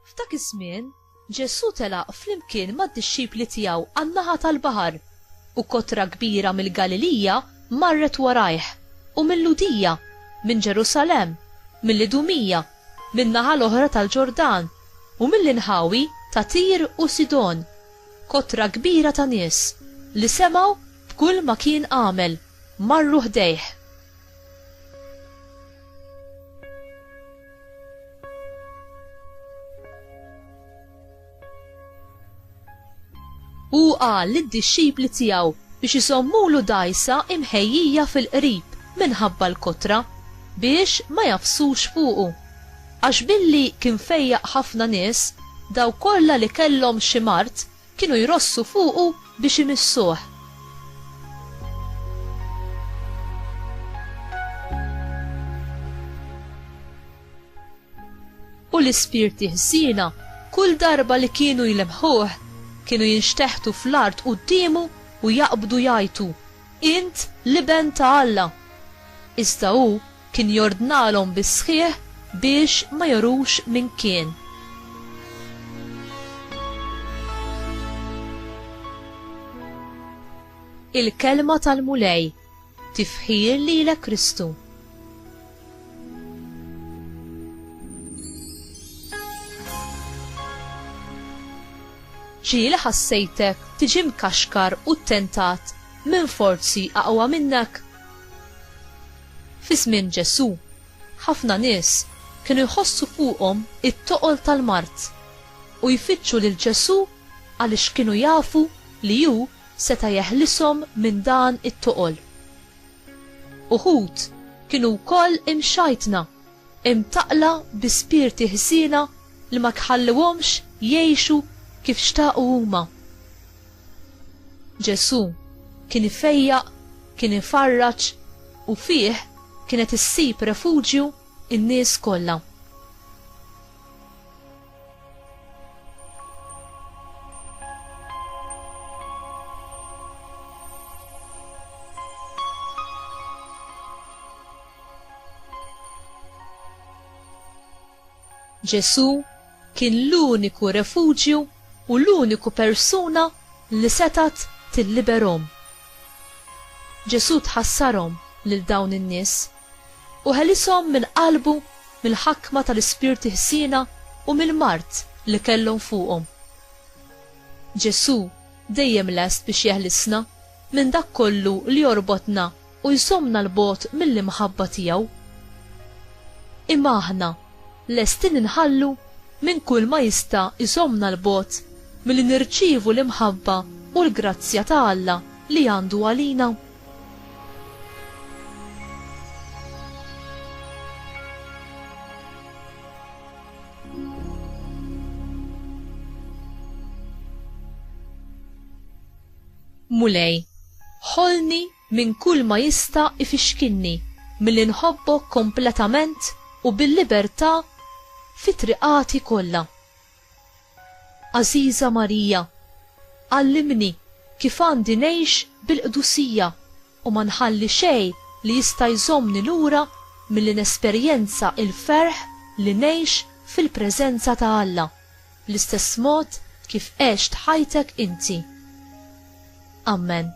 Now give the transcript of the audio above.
F'dak iż-żmien, Ġesù telaq flimkien mad-dixxipli tiegħu għan-naħa tal-baħar, u kotra kbira mill-Galilija marret warajh, u mill-Lhudija, minn Ġerusalemm, mill-Idumija min-naħa l-oħra tal-Ġordan, u mill-inħawi ta' Tir u Sidon, kotra kbira ta' nies, li semgħu b'kull ma kien għamel, marru ħdejh. Hu qal lid-dixxipli tiegħu biex iżommulu dgħajsa imħejjija fil-qrib minħabba l-kotra, biex ma jagħfsux fuqu. Għax billi kien fejjaq ħafna nies, dawk kollha li kellhom xi mard kienu jrossu fuqu biex imissuh. U l-ispirti ħżiena kull darba li kienu jlemmħuh kienu jinxteħtu fl-art quddiemu u jaqbdu jgħajtu, Int l-Iben ta' Alla! Iżda hu kien jordnalhom bis-sħiħ biex ma jorux min kien. Il-Kelma tal-Mulej Tifħir lilek Kristu. Ġieli ħassejtek tiġi mkaxkar u ttentat minn forzi aqwa minnek? Fi żmien Ġesù, ħafna nies kienu jħossu fuqhom it-toqol tal-mard u jfittxu lil Ġesù għaliex kienu jafu li hu seta' jeħlishom minn dan it-toqol. Uħud kienu wkoll imxajtna, imtaqqla bi spirti ħżiena li ma tħalluhomx jgħixu kif xtaqu huma. Ġesù kien ifejjaq, kien ifarraġ, u fih kienet issib refuġju n-nies kollha. Ġesù kien l-uniku refuġju u l-uniku persuna li setgħet tilliberhom. Ġesù tħassarhom lil dawn in-nies. U ħelishom minn qalbu mill-ħakma tal-ispirti ħsiena u mill-mard li kellhom fuqhom. Ġesù dejjem lest biex jeħlisna minn dak kollu li jorbotna u jżommna 'l bogħod mill-imħabba tiegħu. Imma aħna lesti li nħallu minn kulma jista' jżommna 'l bogħod milli nirċievu l-imħabba u l-grazzja ta' Alla li għandu għalina? Mulej, ħolni minn kull ma jista' ifixkinni milli nħobbok kompletament u bil-libertà fi triqati kollha. Għażiża Marija, għallimni kif għandi ngħix bil-qdusija u ma nħalli xejn li jista' jżommni lura milli nesperjenza l-ferħ li ngħix fil-preżenza ta' Alla, bl-istess mod kif għext ħajtek inti. Ammen.